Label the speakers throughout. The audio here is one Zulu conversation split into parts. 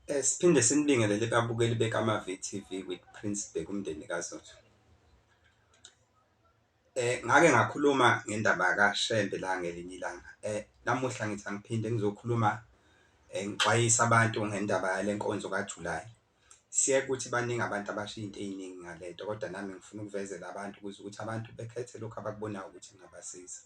Speaker 1: Eh, siphinde sinibingelele babukeli bekaMaVTV with Prince Bheka umndeni kaZotho. Eh ngake ngakhuluma ngendaba kaShembe la ngelinye ilanga. Eh namuhla ngithi angiphinde ngizokhuluma eh, ngixwayisa abantu ngendaba yale nkonzo kaJulayi Siyeke ukuthi baningi abantu abashiya into eyiningi ngale nto kodwa nami ngifuna ukuvezela abantu ukuze ukuthi abantu bekhethe lokhu abakubonayo ukuthi kungabasiza.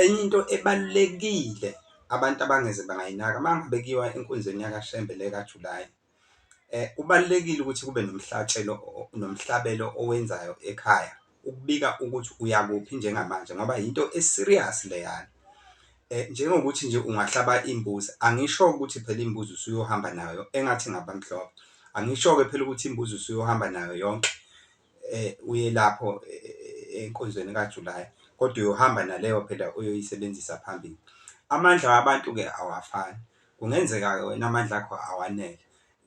Speaker 1: Enye into ebalulekile abantu abangeze bangayinaka uma ngabe kuyiwa enkonzweni yakaShembe le kaJulayi, kubalulekile ukuthi kube nomhlatshelo nomhlabelo owenzayo ekhaya. ukubika ukuthi uyakuphi njengamanje ngoba yinto eserious leyana eh njengokuthi nje ungahlaba imbuzi angisho ukuthi phela imbuzi usuyohamba nayo engathi ngabamhlophe angisho ke phela ukuthi imbuzi usuyohamba nayo yonke eh uye lapho eh, eh, enkonzweni kaJuly kodwa uyohamba naleyo phela uyoyisebenzisa phambili amandla wabantu ke awafani kungenzeka ke wena amandla akho awanele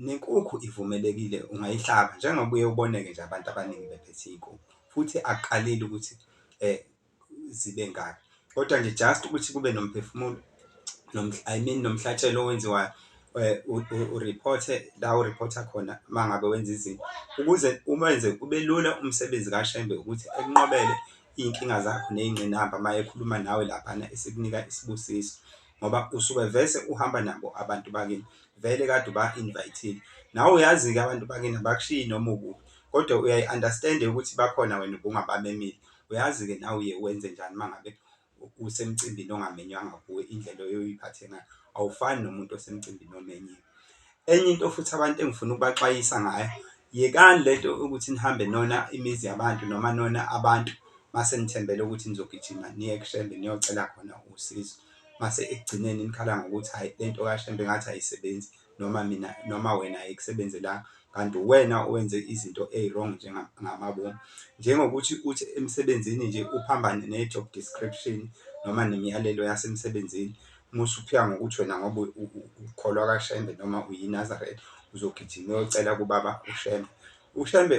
Speaker 1: Nenkukhu ivumelekile ungayihlaba njengoba uye uboneke nje abantu abaningi bephethe iy'nkukhu futhi akukalile ukuthi zibe ngaki. Kodwa nje just ukuthi kube nomphefumulo I mean nomhlatshelo owenziwayo uriphothe la uriphotha khona uma ngabe wenza izinto ukuze umenze kube lula umsebenzi kaShembe ukuthi ekunqobele iy'nkinga zakho ney'ngqinamba uma ekhuluma nawe laphana esikunika isibusiso. ngoba usuke vese uhamba nabo abantu bakini vele kade uba-invayithile nawe uyazi-ke abantu bakini abakushiyi noma ukuphi kodwa uyayi-understand-e ukuthi bakhona wena ubungabamemile uyazi-ke nawe uye wenze njani uma ngabe usemcimbini ongamenywanga kuwe indlela oyoyiphathe ngayo awufani nomuntu osemcimbini omenyiwe Enye into futhi abantu engifuna ukubaxwayisa ngayo, yekani le nto ukuthi nihambe nona imizi yabantu noma nona abantu mase nithembele ukuthi nizogijima niye kushembe niyocela khona usizo. Mase ekugcineni nikhala ngokuthi hhayi le nto kashembe ngathi ayisebenzi noma mina noma wena ayikusebenzelanga kanti uwena owenze izinto eyi-wrong njengamabomu. Njengokuthi uthi emsebenzini nje uphambane ne-job description noma nemiyalelo yasemsebenzini Uma usuphika ngokuthi wena ngoba ukholwa kaShembe noma uyiNazaretha uzogijima uyocela kubaba uShembe. UShembe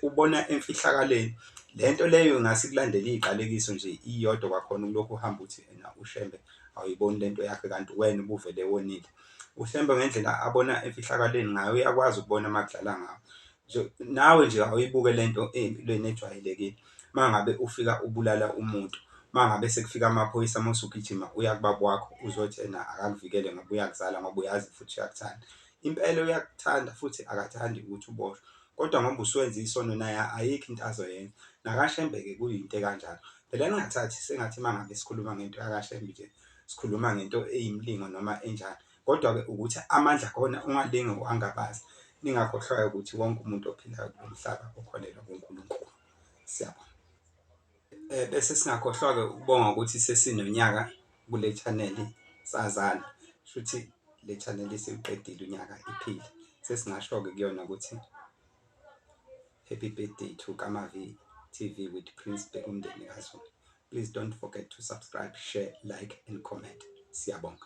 Speaker 1: ubona emfihlakaleni. Le nto leyo ingase ikulandele iyiqalekiso nje iyodwa kwakhona ulokhu uhamba uthi ena uShembe awuyiboni le nto yakhe kanti wena ubuvele wonile. UShembe ngendlela abona emfihlakaleni ngayo uyakwazi ukubona uma kudlala ngawo. nje nawe nje awuyibuke lento empilweni ejwayelekile mangabe ufika ubulala umuntu mangabe sekufika amaphoyisa uma usugijima uya kubaba wakho uzothi ena akakuvikele ngoba uyakuzala ngoba uyazi futhi uyakuthanda impela uyakuthanda futhi akathandi ukuthi uboshwe kodwa ngoba usuwenza isono naye ayikho into azoyenza nakashembeke kuyinto ekanjalo phela ningathathi sengathi mangabe sikhuluma ngento yakashembe nje sikhuluma ngento eyimlingo noma enjani Kodwa-ke ukuthi amandla akhona ungalinge uwangabaze, ningakhohlwa-ke ukuthi wonke umuntu ophilayo kulo mhlaba ukholelwa kuNkulunkulu. Siyabona. Eh, bese singakhohlwa-ke ukubonga ukuthi sesinonyaka kule chaneli sazana shuthi le chaneli isiwuqedile unyaka iphile sesingasho-ke kuyona ukuthi happy birthday to kamavi tv with prince bekumndeni kazulu please don't forget to subscribe share like and comment siyabonga